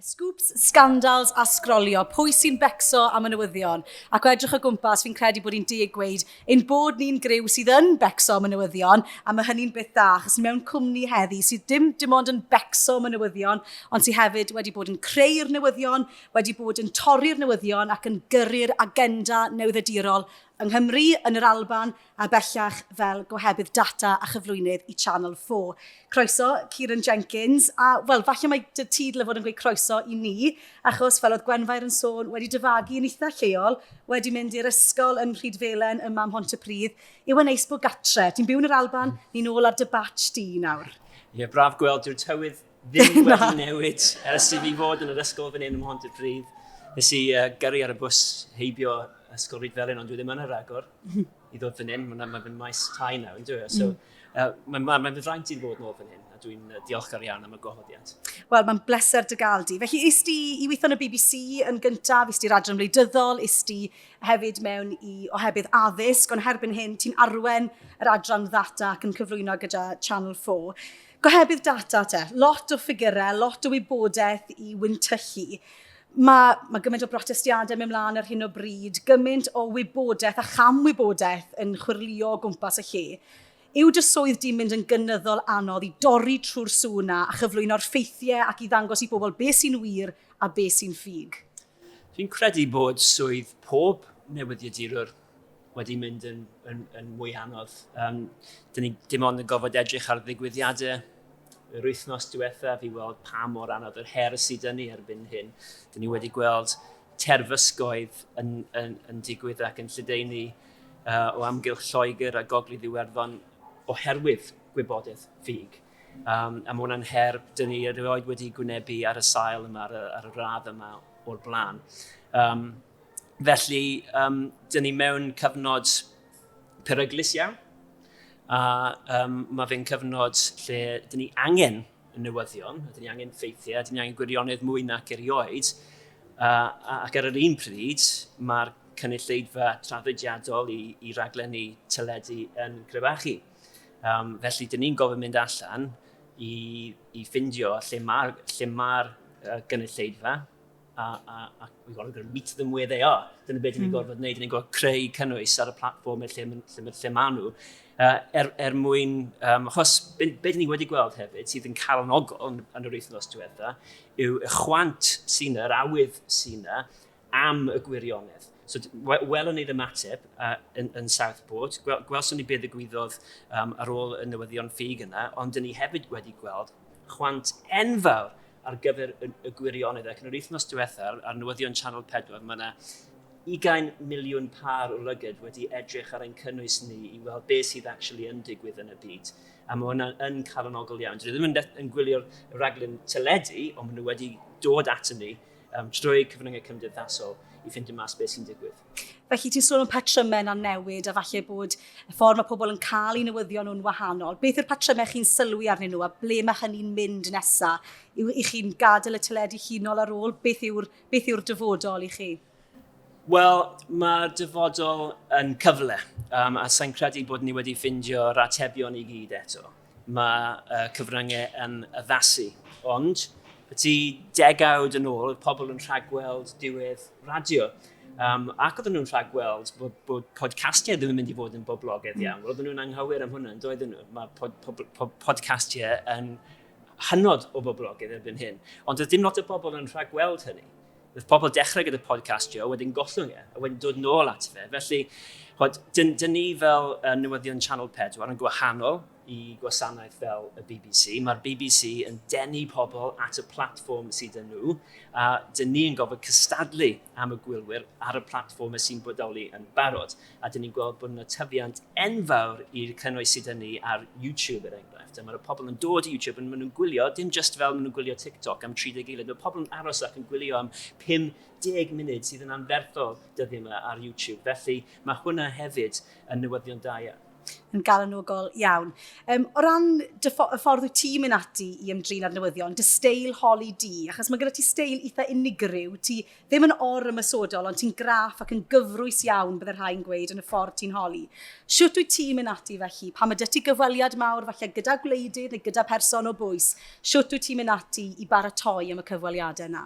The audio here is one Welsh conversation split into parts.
Scoops, scandals a sgrolio, pwy sy'n becso am y newyddion? Ac o edrych o gwmpas, fi'n credu bod hi'n deg gweud ein bod ni'n griw sydd yn becso am y newyddion, a mae hynny'n beth da, achos ni mewn cwmni heddi sydd dim dim ond yn becso am y newyddion, ond sydd hefyd wedi bod yn creu'r newyddion, wedi bod yn torri'r newyddion ac yn gyrru'r agenda newyddedirol yng Nghymru, yn yr Alban a bellach fel gohebydd data a chyflwynydd i Channel 4. Croeso, Kieran Jenkins, a wel, falle mae dy ti dyle fod yn gweud croeso i ni, achos fel oedd Gwenfair yn sôn, wedi dyfagu yn eitha lleol, wedi mynd i'r ysgol yn Rhydfelen ym Mam Mhontypridd, yw e'n neis bod gatre, ti'n byw yn yr Alban, ni'n ôl ar dy batch di nawr. Ie, braf gweld, dyw'r tywydd ddim wedi newid ers i fi fod yn yr ysgol fan hyn ym Mhontypridd. Nes i uh, gyrru ar y bws heibio ysgol Ryd Felyn, ond dwi ddim yn yr agor i ddod fan hyn. Mae'n ma fy maes tai nawr, yn dweud. So, uh, mae'n ma, ma fy fraint i'n fod nôl fan hyn, a dwi'n uh, diolchgar iawn am y gwahoddiad. Wel, mae'n bleser dy gael di. Felly, is di i weithio yn y BBC yn gyntaf, is di'r adran wleidyddol, is di hefyd mewn i ohebydd addysg, ond herbyn hyn, ti'n arwen yr adran ddata ac yn cyflwyno gyda Channel 4. Gohebydd data te, lot o ffigurau, lot o wybodaeth i wyntyllu. Mae, mae gymaint o brotestiadau mewn mlaen ar hyn o bryd, gymaint o wybodaeth a chamwybodaeth yn chwyrlio o gwmpas y lle. Yw dy swydd di'n mynd yn gynyddol anodd i dorri trwy'r sŵ yna a chyflwyno'r ffeithiau ac i ddangos i bobl beth sy'n wir a beth sy'n ffug? Fi'n credu bod swydd pob newyddiadurwr wedi mynd yn, yn, yn mwy anodd. Um, dyn ni dim ond yn gofod edrych ar ddigwyddiadau yr wythnos diwethaf i weld pa mor anodd yr her sydd dyn ni erbyn hyn. Dyn ni wedi gweld terfysgoedd yn, yn, yn digwydd ac yn lledaenu uh, o amgylch Lloegr a Gogledd Iwerddon oherwydd gwybodaeth ffug. Um, a mae hwnna'n her dyn ni erioed wedi gwynebu ar y sail yma, ar y, ar y radd yma o'r blaen. Um, Felly, um, dyn ni mewn cyfnod peryglus iawn, a um, mae fe'n cyfnod lle dyn ni angen y newyddion, a dyn ni angen ffeithiau, a dyn ni angen gwirionedd mwy nac erioed, uh, ac ar yr un pryd mae'r cynulleidfa traddodiadol i, i raglenni teledu yn crebachu. Um, felly, dyn ni'n gofyn mynd allan i, i ffindio lle mae'r lle mae uh, gynulleidfa, a, a, a we've got to meet them where they are. Dyna beth mm. ni'n gorfod wneud, ni'n gorfod creu cynnwys ar y platform lle, lle, lle, lle maen nhw. Uh, er, er mwyn, um, achos be, be dyn ni wedi gweld hefyd sydd yn cael yn ogol yn, yn yr wythnos diwetha yw y chwant sy'n yna, yr awydd sy'n yna am y gwirionedd. So, welwn ni'r ymateb uh, yn, yn Southport. Gwel, gwelson ni beth y gwyddodd um, ar ôl y newyddion ffug yna, ond dyn ni hefyd wedi gweld chwant enfawr ar gyfer y gwirionedd ac yn yr wythnos diwetha ar newyddion Channel 4 mae yna 20 miliwn pâr o lygyd wedi edrych ar ein cynnwys ni i weld beth sydd actually yn digwydd yn y byd. A mae hwnna yn calonogol iawn. Dwi ddim yn, yn gwylio'r raglen teledu, ond maen nhw wedi dod ato ni um, trwy cyfryngau cymdeithasol i ffeindio mas beth sy'n digwydd. Felly ti'n sôn am patrymau yna'n newid a falle bod y ffordd mae pobl yn cael eu newyddion nhw'n wahanol. Beth yw'r patrymau chi'n sylwi arnyn nhw a ble mae hynny'n mynd nesaf? Yw i chi'n gadael y teledu hunol ar ôl? Beth yw'r beth yw'r dyfodol i chi? Wel, mae dyfodol yn cyfle, um, a sa'n credu bod ni wedi ffindio'r atebion i gyd eto. Mae y cyfryngau yn addasu, ond y tu degawd yn ôl, oedd pobl yn rhagweld diwedd radio. Um, ac oedden nhw'n rhagweld bod, bod podcastiau ddim yn mynd i fod yn boblogaidd iawn. Oedden nhw'n anghywir am hwnna, yn doedden nhw. Mae pod, pod, pod, podcastiau yn hynod o boblogaidd erbyn hyn. Ond oedd dim lot o bobl yn rhagweld hynny. Roedd pobl dechrau gyda podcast Joe, wedyn gollwng e, a wedyn dod nôl at fe. Felly, hod, dyn, dyn ni fel uh, newyddion Channel 4 yn gwahanol i gwasanaeth fel y BBC. Mae'r BBC yn denu pobl at y platfform sydd yn nhw, a dyn ni yn gofod cystadlu am y gwylwyr ar y platfform sy'n bodoli yn barod. a dyn ni'n gweld bod yna tyfiant enfawr i'r cynnwys sydd yn ni ar YouTube er enghraifft. A mae'r pobl yn dod i YouTube yn mynd yn gwylio, dim just fel maen nhw'n gwylio TikTok am 30 eilad, mae pobl yn aros ac yn gwylio am 50 munud sydd yn anferthol dyddi yma ar YouTube. Felly mae hwnna hefyd yn newyddion da iawn yn galonogol iawn. Um, o ran y ffordd wyt ti'n mynd ati i ymdrin â'r newyddion, dy steil holi di, achos mae gyda ti steil eitha unigryw, ti Ddim yn or-ymosodol, ond ti'n graff ac yn gyfrwys iawn, bydde rhai'n gweud, yn y ffordd ti'n holi. Shwt wyt ti'n mynd ati felly? Pan mae 'da ti gyfweliad mawr, falle gyda gwleidydd neu gyda pherson o bwys, shwt wyt ti'n mynd ati i baratoi am y cyfweliadau 'na?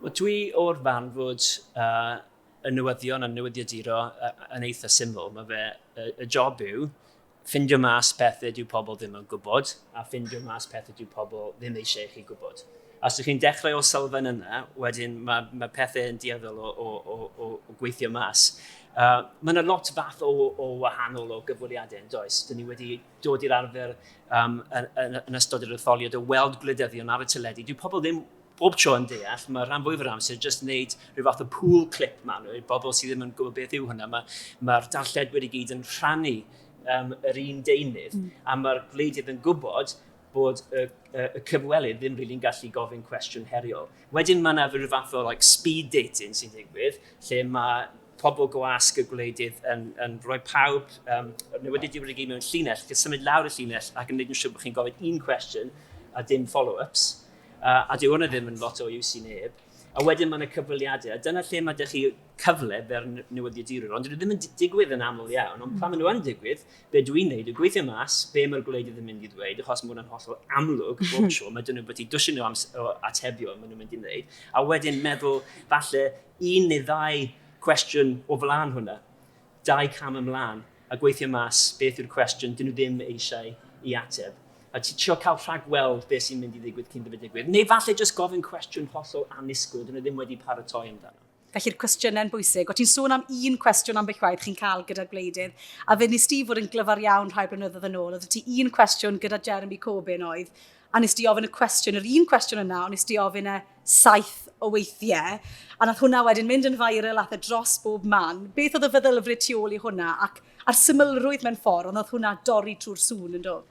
Wel, dwi o'r farn fod uh, y newyddion a newyddiaduro yn eitha syml. Mae fe, y, y job yw Ffindio mas pethau dyw pobl ddim yn gwybod, a ffindio mas pethau dyw pobl ddim eisiau i chi gwybod. A os ydych chi'n dechrau o sylfaen yna, wedyn mae, mae pethau yn dueddol o, o, o, o, o gweithio mas. Uh, mae yna lot fath o, o wahanol o gyfweliadau yn does. Dyn ni wedi dod i'r arfer um, yn, yn, yn ystod yr etholiad o weld gwleidyddion ar y teledu. Dyw pobl ddim bob tro yn deall, mae rhan fwyaf yr amser jyst wneud rhyw fath o pool clip maen nhw, i'r bobl sydd ddim yn gwybod beth yw hwnna, mae'r ma, ma darlledwyr i gyd yn rhannu um, yr un deunydd, mm. a mae'r gwleidydd yn gwybod bod y, y, y cyfwelydd ddim rili'n gallu gofyn cwestiwn heriol. Wedyn mae yna rhyw fath o like, speed dating sy'n digwydd, lle mae pobl gwasg y gwleidydd yn, yn rhoi pawb um, newyddion diwrnod i gyd mewn llinell, chi'n symud lawr y llinell ac yn gwneud yn siŵr bod chi'n gofyn un cwestiwn a dim follow-ups. Uh, a dyw hwnna ddim yn lot o iws i neb. A wedyn mae yna cyfweliadau, a dyna lle mae ydych chi cyfle fer newyddiadurwyr, ond dyn nhw ddim yn digwydd yn aml iawn, ond pan maen nhw yn digwydd, be dwi'n neud yw gweithio mas, be mae'r gwleidyd yn mynd i ddweud, achos mae hwnna'n hollol amlwg bob hmm. tro, mae dyn nhw'n bwyty dwsin o, o atebion maen nhw'n mynd i wneud, a wedyn meddwl falle un neu ddau cwestiwn o flaen hwnna, dau cam ymlaen a gweithio mas beth yw'r cwestiwn dyn nhw ddim eisiau i ateb, a trio cael rhagweld beth sy'n mynd i ddigwydd cyn dyfod digwydd, neu falle jyst gofyn cwestiwn hollol annisgwyl dyn nhw ddim wedi paratoi amdano. Felly'r cwestiynau'n bwysig. O ti'n sôn am un cwestiwn ambell waith chi'n cael gyda'r gwleidydd, a fe nes ti fod yn glyfar iawn rhai blynyddoedd yn ôl, oedd ti un cwestiwn gyda Jeremy Corbyn oedd, a nes di ofyn y cwestiwn, yr un cwestiwn yna, ond nes di ofyn e saith o weithiau, a nath hwnna wedyn mynd yn viral ath e dros bob man. Beth oedd y feddylfryd tu ôl i hwnna, ac a'r symlrwydd mewn ffordd, ond oedd hwnna dorri trwy'r sŵn yn dod?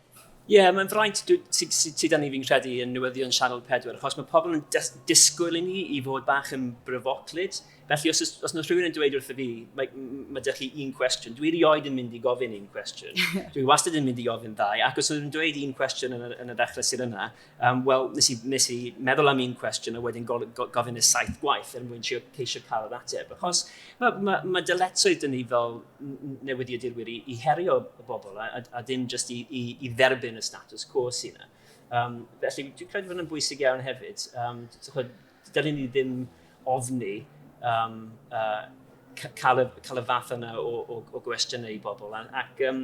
Ie, yeah, mae'n fraint sydd â ni fi'n credu yn newyddion Sianel 4, achos mae pobl yn disgwyl i ni i fod bach yn bryfoclyd, Felly, os, os yna rhywun yn dweud wrth y fi, mae, mae dych chi un cwestiwn, dwi rioed yn mynd i gofyn un cwestiwn. dwi wastad yn mynd i ofyn ddau, ac os ydyn dweud un cwestiwn yn y, yn y ddechrau sydd yna, um, wel, nes i, nes i meddwl am un cwestiwn a wedyn go, go, gofyn y saith gwaith er mwyn ceisio cael yr ateb. Achos mae, mae, mae dyletswydd dyn ni fel newyddiadurwyr i, i herio y bobl a, a, a dim jyst i, i, i dderbyn y status quo sy'n yna. Um, felly, dwi'n credu bod yn bwysig iawn hefyd. Um, Dylun ni ddim ofni um, uh, cael, y, cael y fath yna o, o, o gwestiynau i bobl. Ac um,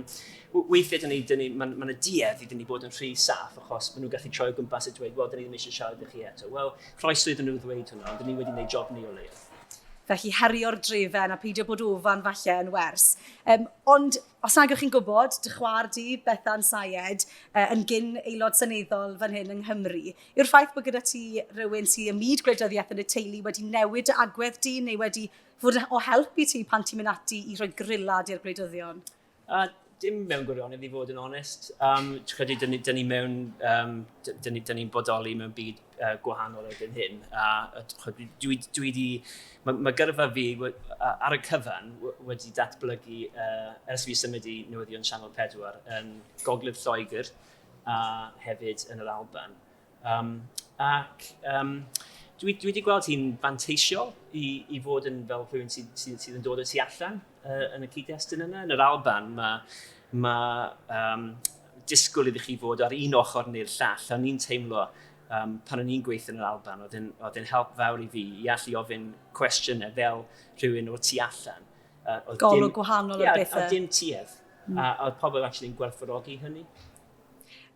weithiau, dyn ni, dyn ni, mae'n ma duedd i dyn ni bod yn rhy saff achos maen nhw'n gallu troi o gwmpas a dweud, wel, dyn ni ddim eisiau siarad â chi eto. Wel, croeso iddyn nhw ddweud hwnna, ond dyn ni wedi gwneud job ni o leiaf. Felly herio'r drefen a peidio bod ofan falle yn wers. Um, ond os nag chi'n gwybod, dy chwar di, Bethan Sayed, uh, yn gyn aelod seneddol fan hyn yng Nghymru, Yw'r ffaith bod gyda ti rywun sydd ym myd gwleidyddiaeth yn y teulu wedi newid dy agwedd di neu wedi fod o help i ti pan ti'n mynd ati i rhoi grillad i'r gwleidyddion? Uh, dim mewn gwirionedd i fod yn onest. Um, credu, dyn ni, dyn ni mewn, um, dyn ni'n ni bodoli mewn byd uh, gwahanol erbyn hyn. A, a dwi, dwi, dwi di, mae ma gyrfa fi ar y cyfan wedi datblygu uh, ers fi symud i newyddion Channel 4 yn Gogledd Lloegr, a hefyd yn yr Alban. Um, ac um, dwi, dwi wedi gweld hi'n fanteisiol i, i fod yn fel rhywun sydd, sydd, sydd yn dod o tu allan uh, yn y cyd-destun yna. Yn yr Alban mae ma, um, disgwyl iddi chi fod ar un ochr neu'r llall. O'n i'n teimlo um, pan o'n i'n gweithio yn yr Alban, oedd yn help fawr i fi i allu ofyn cwestiynau fel rhywun o'r tu allan. Uh, Golwg gwahanol yeah, o bethau. A dim tuedd. Mm. A oedd pobl actually'n gwerthfawrogi hynny?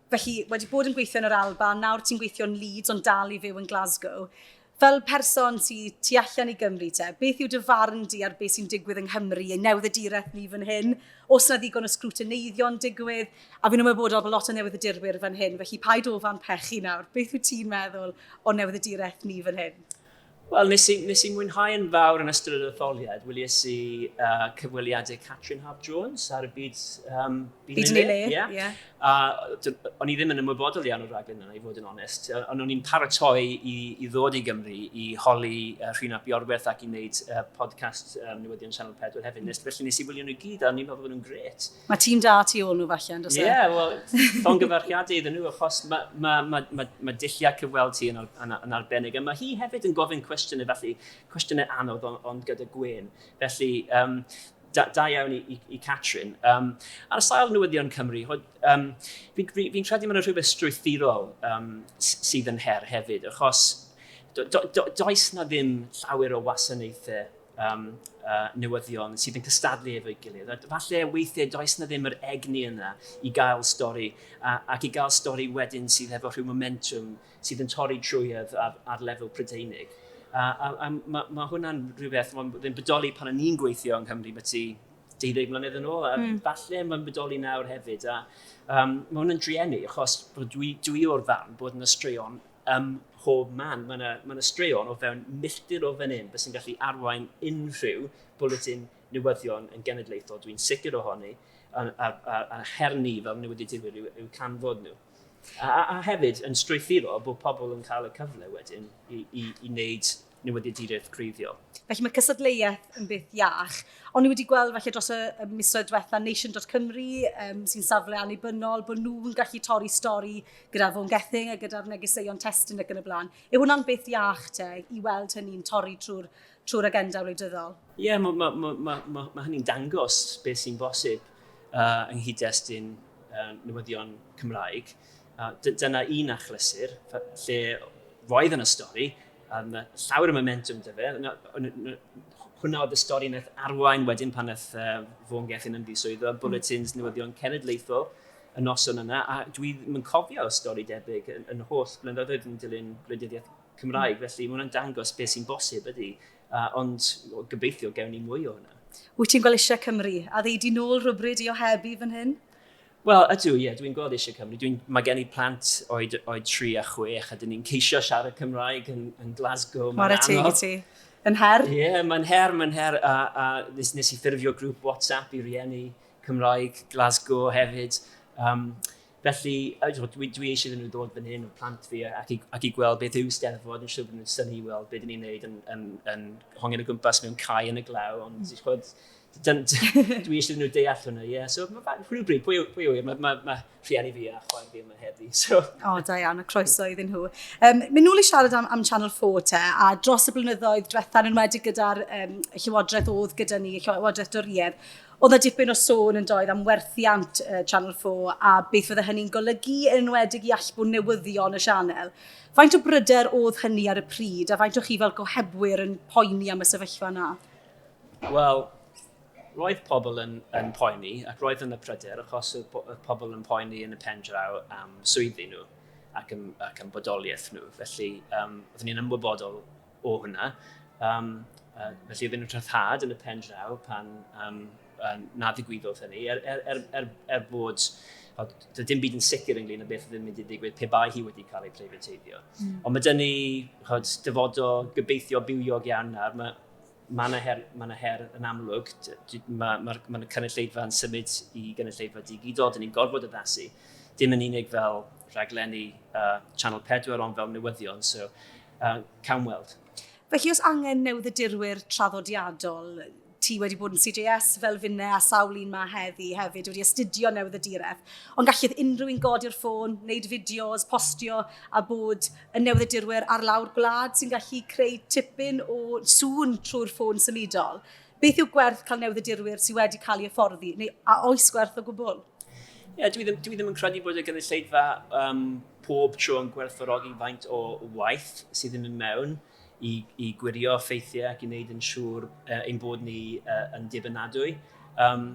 Felly, wedi bod yn gweithio yn yr Alba, nawr ti'n gweithio yn Leeds ond dal i fyw yn Glasgow. Fel person ti, ti allan i Gymru te, beth yw dy farn di ar beth sy'n digwydd yng Nghymru, ei newid y direth ni fan hyn, os yna ddigon o sgrwtyneiddio'n digwydd, a fi'n ymwybodol bod lot o newid y dirwyr fan hyn, felly paid ofan pechu nawr, beth wyt ti'n meddwl o newid y direth ni fan hyn? Wel, nes i, nes i mwynhau yn fawr yn ystod yr etholiad. Wylies i uh, cyfweliadau Catrin Hab Jones ar y byd... Um, byd, byd yn ei le, ie. Yeah. Yeah. Uh, o'n i ddim yn ymwybodol iawn o'r rhaglen yna, i fod yn onest. Ond o'n i'n paratoi i, i ddod i Gymru, i holi uh, Rhun ap Iorwerth ac i wneud uh, podcast um, newyddion Channel 4 hefyd. Nes, felly nes i wylio nhw gyd, a o'n i'n meddwl bod nhw'n gret. Mae tîm da tu ôl nhw falle, yn dweud? Ie, yeah, wel, llongyfarchiadau iddyn nhw, achos mae ma, ma, ma, ma dulliau cyfweld ti yn, yn, yn arbennig, a mae hi hefyd yn gofyn cwestiynau, felly cwestiynau anodd, ond, ond gyda gwyn. Felly, um, da, da iawn i, i, i Catrin. Um, ar y sail newyddion Cymru, um, fi'n fi, fi credu mae'n rhywbeth strwythurol um, sydd yn her hefyd, achos do, do, do, does na ddim llawer o wasanaethau um, uh, newyddion sydd yn cystadlu efo'i gilydd. A falle weithiau does na ddim yr egni yna i gael stori, a, ac i gael stori wedyn sydd efo rhyw momentum sydd yn torri trwyedd ar, ar lefel Prydeinig. A, a, a mae ma hwnna'n rhywbeth mae'n ddim bodoli pan o'n i'n gweithio yng Nghymru mae ti 12 mlynedd yn ôl, a mm. falle mae'n bodoli nawr hefyd. A, um, mae hwnna'n drueni, achos dwi, dwi o'r ddarn bod yna straeon ym mhob man. Mae yna, mae yna straeon o fewn milltir o fan hyn beth sy'n gallu arwain unrhyw bwletin newyddion yn genedlaethol, dwi'n sicr ohoni, a, a, a, a her ni fel newyddiadurwyr yw, yw canfod nhw. A, a, a hefyd yn strwythuro bod pobl yn cael y cyfle wedyn i, i, i wneud newyddiaduraeth greiddiol. Felly mae cystadleuaeth yn beth iach. O'n ni wedi gweld felly dros y misoedd diwetha Nation.Cymru um, sy'n safle annibynnol bod nhw'n gallu torri stori gyda Fôn Gething a gyda'r negeseuon testyn ac yn y blaen. Yw hwnna'n beth iach te i weld hynny'n torri trwy'r trwy agenda wleidyddol? Ie, yeah, mae ma, ma, ma, ma, ma hynny'n dangos beth sy'n bosib uh, yng nghyd-destun uh, newyddion Cymraeg. Uh, dyna un achlysur lle roedd yn y stori Um, llawer o momentum dy fe. Hwna oedd y stori yn eith arwain wedyn pan eith uh, fo'n gellyn ymddiswyddo, mm. bulletins newyddion cenedlaethol y noson yna, a dwi ddim yn cofio stori debyg yn, yn holl blynyddoedd yn dilyn gwleidyddiaeth Cymraeg, mm. felly mae hwnna'n dangos beth sy'n bosib ydy, uh, ond o, gobeithio gewn ni mwy o hwnna. Wyt ti'n gweld eisiau Cymru a ddeud i nôl rhywbryd i ohebu fan hyn? Wel, ydw, ie, dwi'n gweld eisiau Cymru. Dwi'n, mae gen i plant oed, oed 3 a 6 a dyn ni'n ceisio siarad Cymraeg yn, yn Glasgow. Mae'n anodd. Mae'n ti. Yn her? Ie, yeah, mae'n her, mae'n her. A, a nes, nes i ffurfio grŵp WhatsApp i rieni Cymraeg Glasgow hefyd. Um, felly, dwi, dwi eisiau iddyn nhw ddod fan hyn o plant fi ac i, ac i gweld beth yw steddfod. Yn siŵr bod nhw'n syni i weld beth ni'n neud yn, yn, yn, yn hongen y gwmpas mewn cae yn y glaw. Ond, mm. chod, dwi eisiau nhw deall hwnna, ie. Yeah. So, rhywbryd, pwy, pwy yw e? Mae ma, ma rhieni fi a chwaer fi yma heddi. So. O, da iawn, a croeso iddyn nhw. Um, Mynd nôl i siarad am, am Channel 4 te, a dros y blynyddoedd diwetha'n enwedig gyda'r um, llywodraeth oedd gyda ni, llywodraeth Doriedd, oedd na dipyn o sôn yn doedd am werthiant uh, Channel 4 a beth fydde hynny'n golygu yn enwedig i allbwn newyddion y sianel. Faint o bryder oedd hynny ar y pryd a faint o chi fel gohebwyr yn poeni am y sefyllfa yna? Wel, roedd pobl yn, yn poeni ac roedd yn y pryder achos y, y pobl yn poeni yn y pen draw am swyddi nhw ac yn, ac yn bodoliaeth nhw. Felly, um, oeddwn ni'n ymwybodol o hwnna. Um, uh, felly, oeddwn ni'n rhyddhad yn y pen draw pan um, uh, na ddigwyddodd hynny, er, er, er, er, er bod Doedd dim byd yn sicr ynglyn â beth oedd yn mynd i ddigwydd pe bai hi wedi cael ei preifateiddio. Mm. Ond mae dyn ni chod, dyfodol gobeithio bywiog iawn nawr. Mae Mae yna her, ma yna her yn amlwg. Mae'r ma, ma, ma cynulleidfa yn symud i gynulleidfa digidol. Dyn ni'n gorfod addasu. Dim yn unig fel rhaglenni uh, Channel 4, ond fel newyddion. So, uh, cawn weld. Felly, os angen newyddirwyr traddodiadol, ti wedi bod yn CJS fel finne a sawl un mae heddi hefyd wedi astudio newydd y direth. Ond gallith unrhyw un godi'r ffôn, wneud fideos, postio a bod y newyddiadurwyr ar lawr gwlad sy'n gallu creu tipyn o sŵn trwy'r ffôn symudol. Beth yw gwerth cael newyddiadurwyr sydd wedi cael ei hyfforddi, neu a oes gwerth o gwbl? Ie, yeah, dwi, ddim, dwi ddim yn credu bod y gynulleidfa um, pob tro yn gwerthfawrogi faint o waith sydd yn mynd mewn i, i gwirio ffeithiau ac i wneud yn siŵr uh, ein bod ni uh, yn dibynadwy. Um,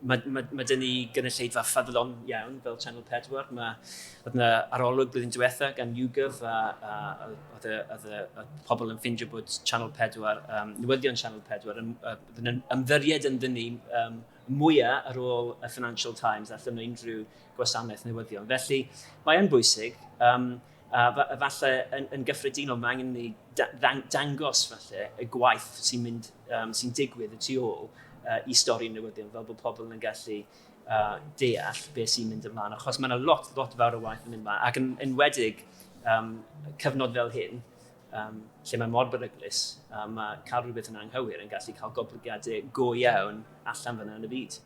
mae, mae, mae dyn ni gynulleidfa ffyddlon iawn fel Channel 4. Mae oedd yna arolwg blwyddyn diwetha gan YouGov a, a, a oedd y, oedd y, y pobl yn ffindio bod Channel 4, um, newyddion Channel 4, yn, yn, yn ymddiried yn dyn ni um, mwyaf ar ôl y Financial Times allan o unrhyw gwasanaeth newyddion. Felly, mae'n bwysig. Um, A falle yn, yn gyffredinol, mae angen ni dangos falle y gwaith sy'n mynd, um, sy'n digwydd y tu ôl uh, i stori'n newyddion, fel bod pobl yn gallu uh, deall beth sy'n mynd ymlaen. Achos mae yna lot, lot fawr o waith yn mynd ymlaen, ac yn enwedig um, cyfnod fel hyn, um, lle mae mor beryglus, um, mae cael rhywbeth yn anghywir yn gallu cael goblygiadau go iawn allan fyna yn y byd.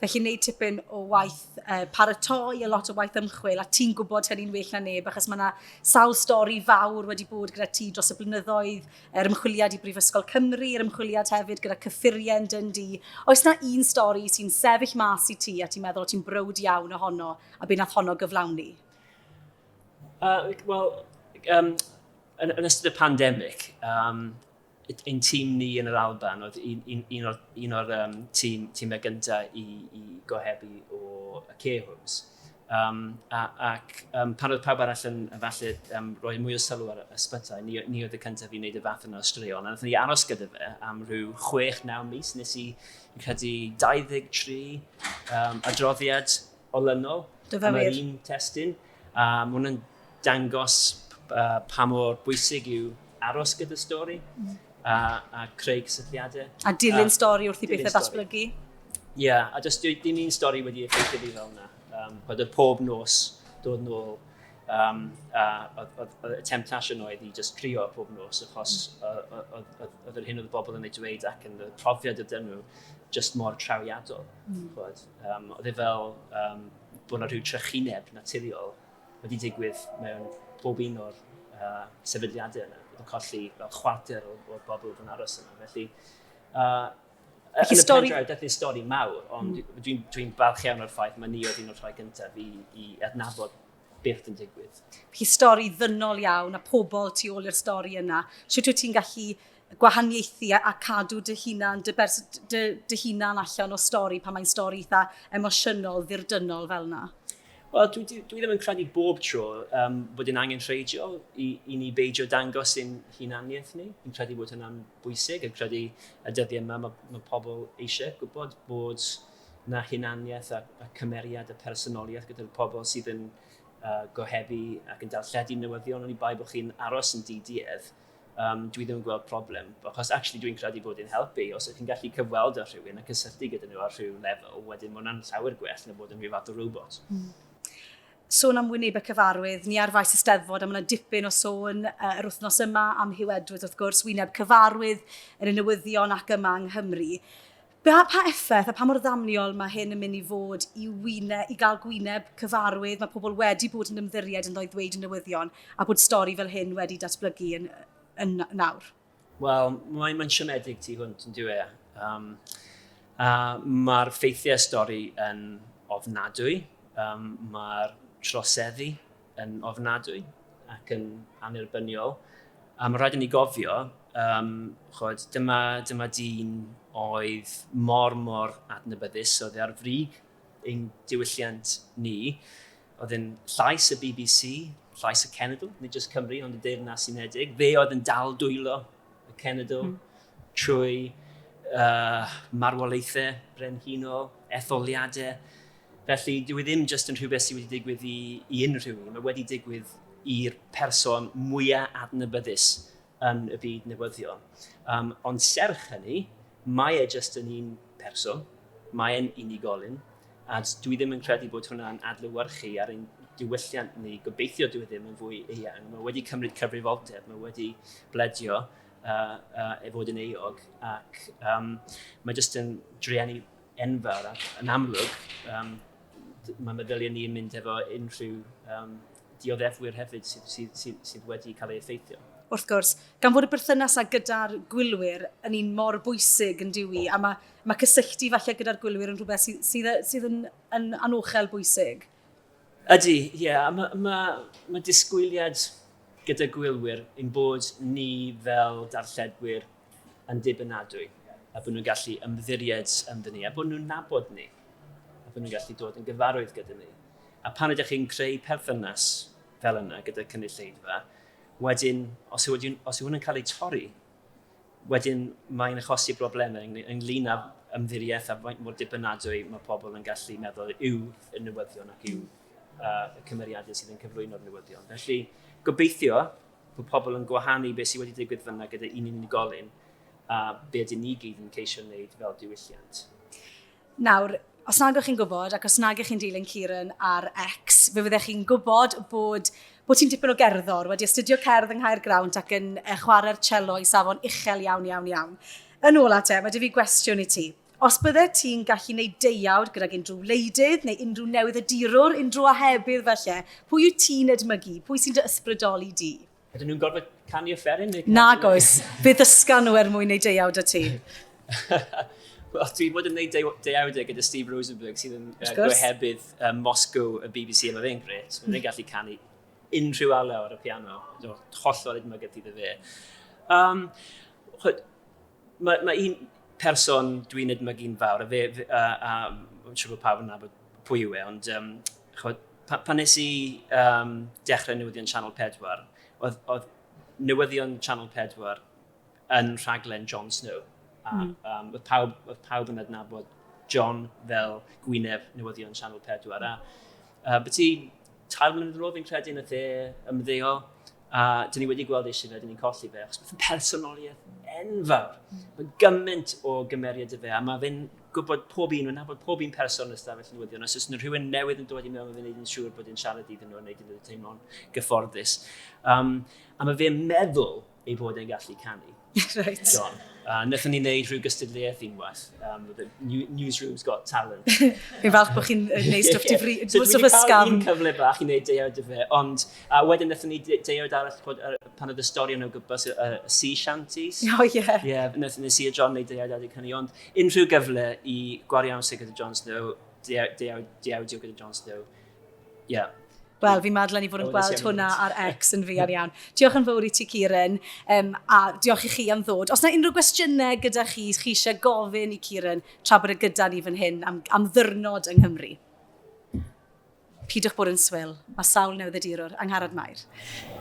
Felly wneud tipyn o waith uh, paratoi a lot o waith ymchwil a ti'n gwybod hynny'n well na neb achos mae yna sawl stori fawr wedi bod gyda ti dros y blynyddoedd, yr ymchwiliad i Brifysgol Cymru, yr ymchwiliad hefyd gyda cyffurien dyn di. Oes na un stori sy'n sefyll mas i ti a ti'n meddwl o ti'n brwd iawn ohono a byd nath honno gyflawni? Uh, Wel, um, yn, yn ystod y pandemig, um, Ein tîm ni yn yr Alban oedd un o'r tîmau gyntaf i gohebu o care homes. Ac pan oedd pawb arall yn falle rhoi mwy o sylw ar ysbytai, ni oedd y cyntaf i wneud y fath yna o straeon. A wnaethon ni aros gyda fe am rhyw chwech, naw mis. Nes i, fi'n credu, 23 adroddiad olynol am yr un testun. A ma' hwn yn dangos pa mor bwysig yw aros gyda stori a, a creu cysylltiadau. A dilyn a, stori wrth i bethau ddatblygu. Ie, yeah, a does dim un stori wedi effeithio fi fel yna. Um, bod y pob nos dod yn ôl um, a oedd y temptation oedd i just crio pob nos achos oedd yr hyn oedd y bobl yn ei dweud ac yn y profiad y dyn nhw just mor trawiadol. Mm. Um, oedd e fel um, bod yna rhyw trychineb naturiol wedi digwydd mewn pob un o'r uh, sefydliadau yna. Bod yn colli fel chwarter o'r, or bobl oedd yn aros yna. Felly, uh, yn y stori... pendraw, daeth yn stori mawr, ond mm. dwi'n dwi balch iawn o'r ffaith mae ni oedd un o'r rhai gyntaf i, i adnabod beth yn digwydd. Hi stori ddynol iawn a pobl tu ôl i'r stori yna. Sut wyt ti'n gallu gwahaniaethu a, a cadw dy hunan, dy, bers, dy, dy hunan allan o stori pan mae'n stori eitha emosiynol, ddirdynol fel yna? Wel, dwi, dwi, dwi ddim yn credu bob tro um, bod yn angen rheidjo i, i ni beidio dangos yn hunaniaeth ni. Yn credu bod hynna'n bwysig, yn credu y dyddiau yma mae, mae pobl eisiau gwybod bod na hunaniaeth a, a cymeriad a personoliaeth gyda'r pobl sydd yn uh, gohebu ac yn darlledu newyddion, ond i bai bod chi'n aros yn DDF, um, dwi ddim yn gweld problem, achos actually dwi'n credu bod yn helpu. Os ydych chi'n gallu cyfweld â rhywun a cysylltu gyda nhw ar rhyw lefel, wedyn mae hwnna'n llawer gwell na bod yn rhyw fath o robot. Mm sôn am wyneb y cyfarwydd, ni ar faes y steddfod, a mae yna dipyn o sôn uh, yr wythnos yma am Hugh Edwards, wrth gwrs, wyneb cyfarwydd yn y newyddion ac yma yng Nghymru. Pa effaith a pa mor ddamniol mae hyn yn mynd i fod i wyne, i gael gwyneb cyfarwydd, mae pobl wedi bod yn ymddiried ynddo i ddweud y newyddion a bod stori fel hyn wedi datblygu yn, yn nawr? Wel, mae'n mae siomedig tu hwnt yn diwe. Um, a mae'r ffeithiau stori yn ofnadwy, um, mae'r troseddu yn ofnadwy ac yn annerbyniol. A mae rhaid i ni gofio, um, chod, dyma, dyma dyn oedd mor mor adnabyddus, oedd e ar frig ein diwylliant ni, oedd yn llais y BBC, llais y cenedl, nid jyst Cymru, ond y Deyrnas Unedig. Fe oedd yn dal dwylo y cenedl mm. trwy uh, marwolaethau brenhinol, etholiadau, Felly, dyw e ddim jyst yn rhywbeth sydd wedi digwydd i, i unrhyw un, mae wedi digwydd i'r person mwyaf adnabyddus yn y byd newyddion. Um, ond serch hynny, mae e jyst yn un person, mae e'n unigolyn, a dwi ddim yn credu bod hwnna'n adlywyrchu ar ein diwylliant ni, gobeithio dwi e ddim yn fwy eang. Mae wedi cymryd cyfrifoldeb, mae wedi bledio uh, uh, e fod yn eog, ac um, mae jyst yn drueni enfawr ac yn amlwg um, mae meddyliau ni yn mynd efo unrhyw um, dioddefwyr hefyd sydd, sydd, sydd, sydd wedi cael ei effeithio. Wrth gwrs, gan fod y berthynas â gyda'r gwylwyr yn un mor bwysig yn diwy, a mae, mae cysylltu falle gyda'r gwylwyr yn rhywbeth sydd, sydd, sydd yn, yn anochel bwysig. Ydy, ie. Yeah, mae ma, ma disgwyliad gyda gwylwyr yn bod ni fel darlledwyr yn ddibynadwy a bod nhw'n gallu ymddiried ynddyn ni a bod nhw'n nabod ni a bod nhw'n gallu dod yn gyfarwydd gyda ni. A pan ydych chi'n creu perthynas fel yna gyda cynulleidfa, wedyn, os yw, os yw hwn yn cael ei torri, wedyn mae'n achosi broblemau ynglyn â ymddiriaeth a faint mor dibynadwy mae pobl yn gallu meddwl yw y newyddion ac yw uh, y cymeriadau sydd yn cyflwyno'r newyddion. Felly, gobeithio Mae pobl yn gwahanu beth sydd wedi digwydd fyna gyda un unigolyn a be ydyn ni gyd yn ceisio wneud fel diwylliant. Nawr, os nag ych chi'n gwybod ac os nag ych chi'n dilyn Kieran ar X, fe fyddech chi'n gwybod bod bod ti'n dipyn o gerddor, wedi astudio cerdd yng Nghaer Grawnt ac yn chwarae'r cello i safon uchel iawn, iawn, iawn. Yn ôl at e, mae dy fi gwestiwn i ti. Os byddet ti'n gallu wneud deuawd gydag unrhyw wleidydd neu unrhyw newyddiadurwr, unrhyw ohebydd falle, pwy wyt ti'n edmygu? Pwy sy'n dy ysbrydoli di? Ydyn nhw'n gorfod canu offeryn neu canu... Nag oes. Fe ddysga nhw er mwyn wneud deuawd â ti. Wel, dwi bod yn gwneud deu deuawdau gyda Steve Rosenberg sydd yn uh, gohebydd uh, Moscow y BBC a mae fe'n gret. Mae'n mm. gallu canu unrhyw alaw ar y piano. Hollol edmygedd iddo fe. Um, Mae, mae un person dwi'n edmygu'n fawr, a fe, fe a, a, a siŵr bod pawb yn nabod pwy yw e, ond um, chod, pa, pan nes i um, dechrau newyddion Channel 4, oedd, oedd newyddion Channel 4 yn rhaglen Jon Snow. A, mm. um, oedd, pawb, oedd pawb yn adnabod John fel gwyneb newyddion Channel 4. A, a beth i tair mlynedd yn ôl fi'n credu yn y dde ymddeol, A dyn ni wedi gweld eisiau fe, dyn ni'n colli fe, achos mae'n personoliaeth enfawr. Mm. Mae gymaint o gymeriad y fe, a mae fe'n gwybod pob un, mae'n nabod pob un person yn ystafell newyddion, os oes yna rhywun newydd yn dod i mewn, mae fe'n gwneud yn siŵr bod yn siarad iddyn nhw, yn gwneud iddyn nhw teimlo'n gyfforddus. Um, a mae fe'n meddwl ei bod e'n gallu canu. Reit. John. Uh, Nethon ni wneud rhyw gystadleuaeth unwaith. Um, the Newsroom's Got Talent. Fi'n falch bod chi'n gwneud stwff difri... So dwi wedi cael un cyfle bach i wneud deuawd y fe, ond uh, wedyn nethon ni deuawd arall bod, uh, pan oedd y stori yn o gwybus y uh, sea shanties. O, oh, ie. Yeah. Ie, yeah, nethon ni Sir John wneud deuawd adeg hynny, ond unrhyw gyfle i gwario amser gyda John Snow, deuawdio gyda John Snow, Ie. Yeah. Wel, fi madlen i fod yn gweld hwnna ar X yn fi ar iawn. Diolch yn fawr i ti, Kieran, um, a diolch i chi am ddod. Os yna unrhyw gwestiynau gyda chi, chi eisiau gofyn i Kieran tra bod y e gyda ni fan hyn am, am ddyrnod yng Nghymru. Pidwch bod yn swil, mae sawl newyddiadurwr angharad Mair.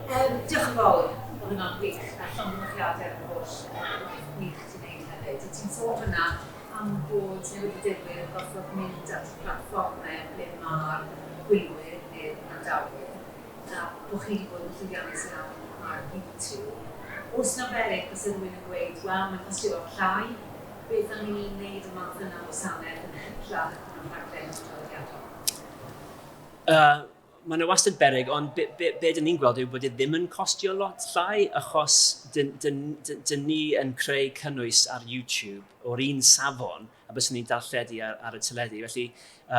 Um, diolch yn fawr, oedd hwnna'n gwych, a llongyfarchiadau ar y holl gwaith gwych ti'n neud hefyd. Ti'n sôn hwnna pam bod newidifwyr yn gorfod mynd at blatfformau ble mae'r gwylwyr neu'r gwrandawyr, a bod chi wedi bod yn llwyddiannus iawn ar YouTube. Os na beryg, byse rhywun yn gweud, wel, mae'n costio lot llai, beth am i ni wneud y math yna o wasanaeth yn hytrach na'r rhaglen traddodiadol? Mae yna wastad beryg ond be, be, be dyn ni'n gweld yw bod e ddim yn costio lot llai achos dyn, dyn, dyn, dyn ni yn creu cynnwys ar YouTube o'r un safon a byswn ni'n darlledu ar, ar y teledu. Felly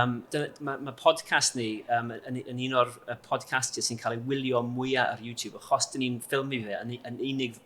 um, dyna, mae, mae podcast ni um, yn, yn un o'r podcastiau sy'n cael ei wylio mwyaf ar YouTube achos dyn ni'n ffilmio fe yn, yn unig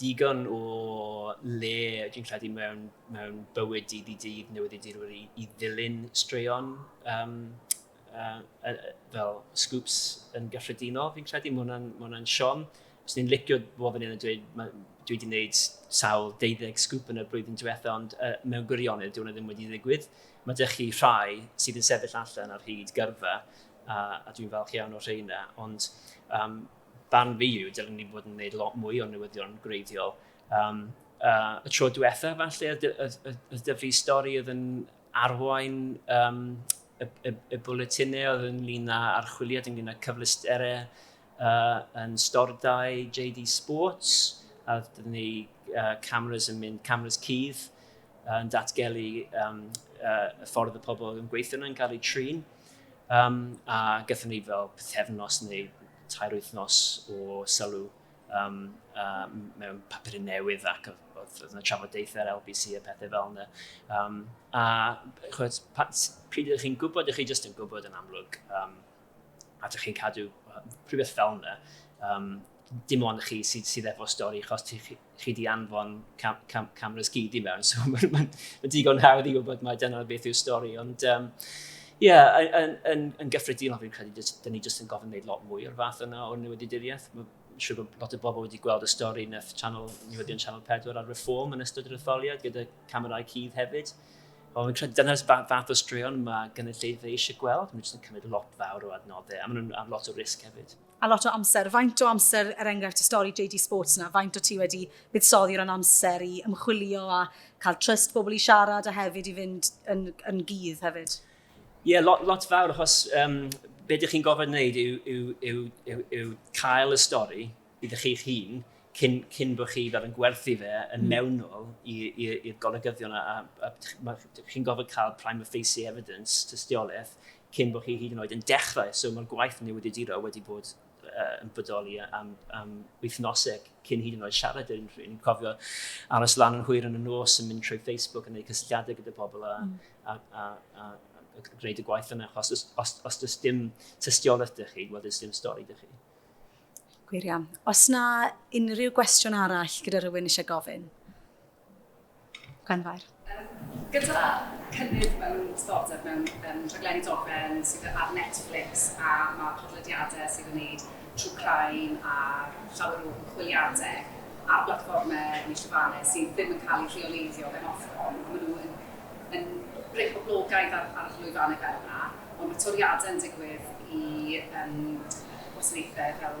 digon o le dwi'n credu mewn mewn bywyd dydd i dydd newyddiadurwyr i i ddilyn straeon yym yy yy yy fel scoops yn gyffredinol fi'n credu. Ma' hwnna'n ma' hwnna'n siom. Fyswn i'n licio bod fan hyn a dweud ma' dwi 'di wneud sawl deuddeg sgŵp yn y blwyddyn diwetha ond yy mewn gwirionedd dyw hwnna ddim wedi digwydd. Ma' 'da chi rhai sydd yn sefyll allan ar hyd gyrfa a a dwi'n falch iawn o'r rheina ond yym... barn fi yw, dylwn ni fod yn gwneud lot mwy o newyddion gwreiddiol. Um, uh, y tro diwetha, falle, y dyfu stori oedd yn arwain um, y, y, y bwletinau oedd ynglyn â archwiliad, ynglyn â cyflesterau uh, yn stordau JD Sports, a dydyn ni uh, cameras yn mynd, cameras cydd, yn datgelu um, uh, y ffordd y pobl yn gweithio nhw'n cael eu trin. Um, a gyda ni fel pethefnos neu tair wythnos o sylw um, uh, mewn papur newydd ac oedd yna trafodaethau ar LBC a pethau fel yna. Um, a chwyd, pryd ydych chi'n gwybod, ydych chi jyst yn gwybod yn amlwg um, a ydych chi'n cadw rhywbeth fel yna. Um, dim ond chi sydd, sydd efo stori, chos chi di anfon cam, cam, cameras gyd i mewn, so mae'n ma, ma digon hawdd i wybod mae dyna beth yw'r stori, ond um, yeah, yn, yn, yn gyffredinol fi'n credu, dyn ni jyst yn gofyn gwneud lot mwy o'r fath yna o newyddiaduriaeth. Mae'n siŵr bod lot o bobl wedi gweld y stori yn eich channel, newyddion Channel 4 ar Reform yn ystod yr etholiad gyda camerau cudd hefyd. Ond fi'n credu dyna'r fath o straeon mae gynulleidfa eisiau gweld. Mae'n jyst yn cymryd lot fawr o adnoddau a maen nhw'n am lot o risg hefyd. a lot o amser. Faint o amser, er enghraifft, y stori JD Sports yna, faint o ti wedi buddsoddi ran amser i ymchwilio a cael trust bobl i siarad a hefyd i fynd yn, yn gydd hefyd? Ie, yeah, lot, lot fawr, achos um, be ydych chi'n gofod wneud yw, yw, yw, yw, yw cael y stori iddo chi'ch hun cyn, cyn bod chi fel yn gwerthu fe yn hmm. mewnol i'r golygyddion a, a, a, a chi'n gofod cael prime of face evidence, tystiolaeth, cyn bod hi hyd yn oed yn dechrau, so mae'r gwaith newyddiaduro wedi bod uh, yn bodoli am, am wythnoseg cyn hyd yn oed siarad i'r unrhyw un. Cofio aros lan yn hwyr yn y nos yn mynd trwy Facebook yn gwneud cysylltiadau gyda pobl a, mm. a, a, a, a gwneud y gwaith yna, achos os, os, os does dim tystiolaeth dych chi, wel, does dim stori dych chi. Gwir iawn. Os na unrhyw gwestiwn arall gyda rhywun eisiau gofyn? Gwenfair. Gyda cynnydd mewn diddordeb mewn rhaglenni dogfen sydd ar Netflix a mae podlediadau sydd yn wneud true crime a llawer o ymchwiliadau ar blatfformau neu llwyfannau sydd ddim yn cael eu rheoleiddio gan Ofcom a maen nhw yn yn rhoi poblogaeth ar ar lwyfannau fel yna ond mae toriadau yn digwydd i gwasanaethau fel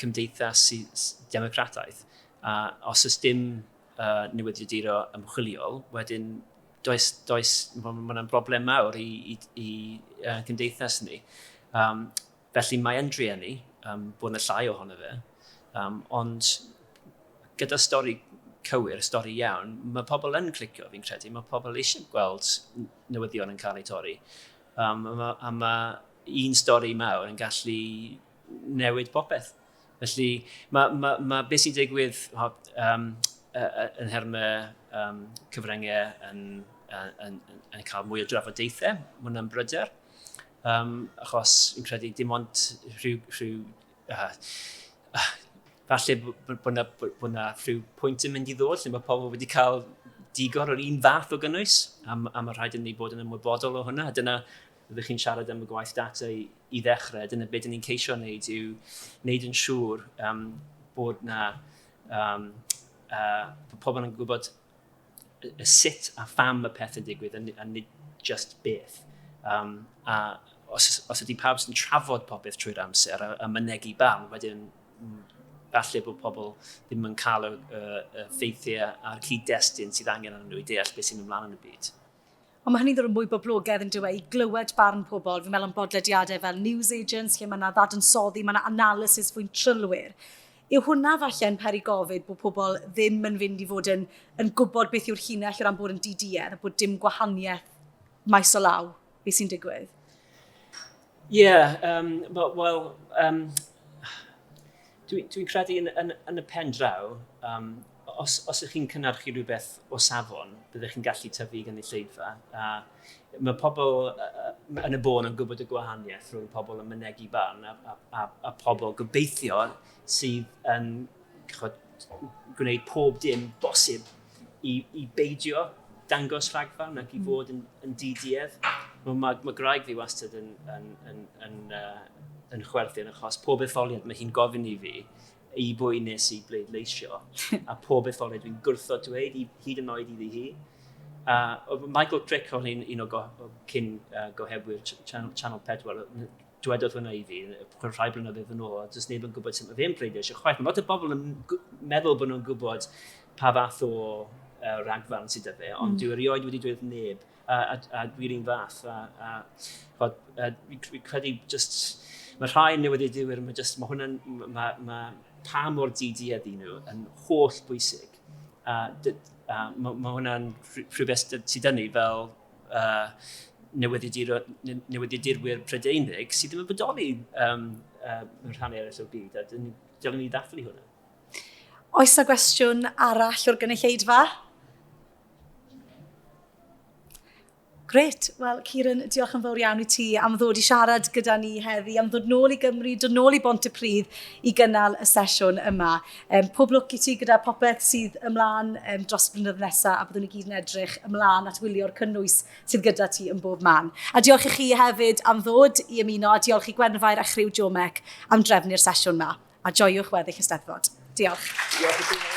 cymdeithas democrataidd, a os oes dim newyddiaduro ymchwiliol, wedyn does, does, mae hwnna'n broblem mawr i, i, i uh, cymdeithas ni. Um, felly mae yn drueni um, bod yna llai ohono fe, um, ond gyda stori cywir, stori iawn, mae pobl yn clicio fi'n credu, mae pobl eisiau gweld newyddion yn cael eu torri. Um, a mae, ma un stori mawr yn gallu newid popeth. Felly, mae, mae, mae beth sy'n digwydd um, yn herma um, cyfryngau yn, yn, yn, yn cael mwy o drafodaethau, mae hwnna'n bryder. Um, achos yn credu dim ond rhyw... rhyw uh, uh, falle bod yna bod yna rhyw pwynt yn mynd i ddod lle mae pobl wedi cael digon o'r un fath o gynnwys, a, a mae rhaid i ni bod yn ymwybodol o hwnna. Dyna, rydych chi'n siarad am y gwaith data i, i ddechrau, dyna beth ni'n ceisio wneud yw wneud yn siŵr um, bod na um, uh, bod pobl yn gwybod y sut a pham y peth yn digwydd a, a nid just beth. Um, a os, os ydy pawb sy'n trafod popeth trwy'r amser a, a mynegu bam, wedyn mm, falle bod pobl ddim yn cael y, y, y ffeithiau a'r cyd-destun sydd angen arnyn nhw i deall beth sy'n ymlaen yn y byd. Ond mae hynny'n ddod yn mwy boblogaidd yn dyw e, i glywed barn pobl. Fi'n meddwl am bodlediadau fel News Agents, lle mae yna ddadansoddi, mae yna analysis fwy'n trylwyr. Yw hwnna falle'n peri gofid bod pobl ddim yn fynd i fod yn, yn gwybod beth yw'r llinell o ran bod yn di-duedd a bod dim gwahaniaeth maes o law beth sy'n digwydd? Ie, yym, wel, wel yym, dwi, dwi'n credu yn, yn, yn y pen draw, um, os, os ych chi'n cynnyrchu rhywbeth o safon, byddwch chi'n gallu tyfu gynulleidfa. A mae pobl uh, yn y bôn yn gwybod y gwahaniaeth rhwng pobl yn mynegu barn a, a, a, a pobl gobeithio sydd yn chod, gwneud pob dim bosib i, i beidio dangos rhagfarn ac i mm. fod yn, yn diduedd. Mae, mae, mae graig fi wastad yn, yn, yn, yn, uh, yn chwerthin achos pob etholiad mae hi'n gofyn i fi i bwy nes i bleidleisio a pob etholiad dwi'n gwrtho dweud i, hyd yn oed iddi hi. Uh, Michael Crick o'n un, un o, go, o cyn uh, gohebwyr Channel, Channel 4 dwedodd hwnna i fi rhai blynyddoedd yn ôl, a does neb yn gwybod sut mae fe'n pleidleisio chwaith. Mae lot o bobl yn meddwl bod nhw'n gwybod pa fath o uh, ragfarn sydd â fe, ond mm. dwi erioed wedi dweud neb, a, a, a dwi'n un fath. A, a, a, a, a credu just, mae rhai newyddiadurwyr, mae, just, mae hwnna'n, mae, mae pa mor didi ydy nhw yn holl bwysig. A, a mae, mae hwnna'n rhywbeth sydd dynnu fel uh, newyddiadurwyr Prydeinig sydd ddim yn bodoli um, uh, mewn rhan eraill o'r byd, a dylen ni ddathlu hwnna. Oes na gwestiwn arall o'r gynulleidfa? Gret. Wel, Ciron, diolch yn fawr iawn i ti am ddod i siarad gyda ni heddi, am ddod nôl i Gymru, dod nôl i Bont y Pridd i gynnal y sesiwn yma. Um, pob lwc i ti gyda popeth sydd ymlaen um, dros y blynyddoedd nesaf a byddwn i gyd yn edrych ymlaen at wylio'r cynnwys sydd gyda ti yn bob man. A diolch i chi hefyd am ddod i ymuno a diolch i Gwenfair a chriw Jomec am drefnu'r sesiwn yma. A joiwch weddill y steddfod. Diolch. Diolch i ti.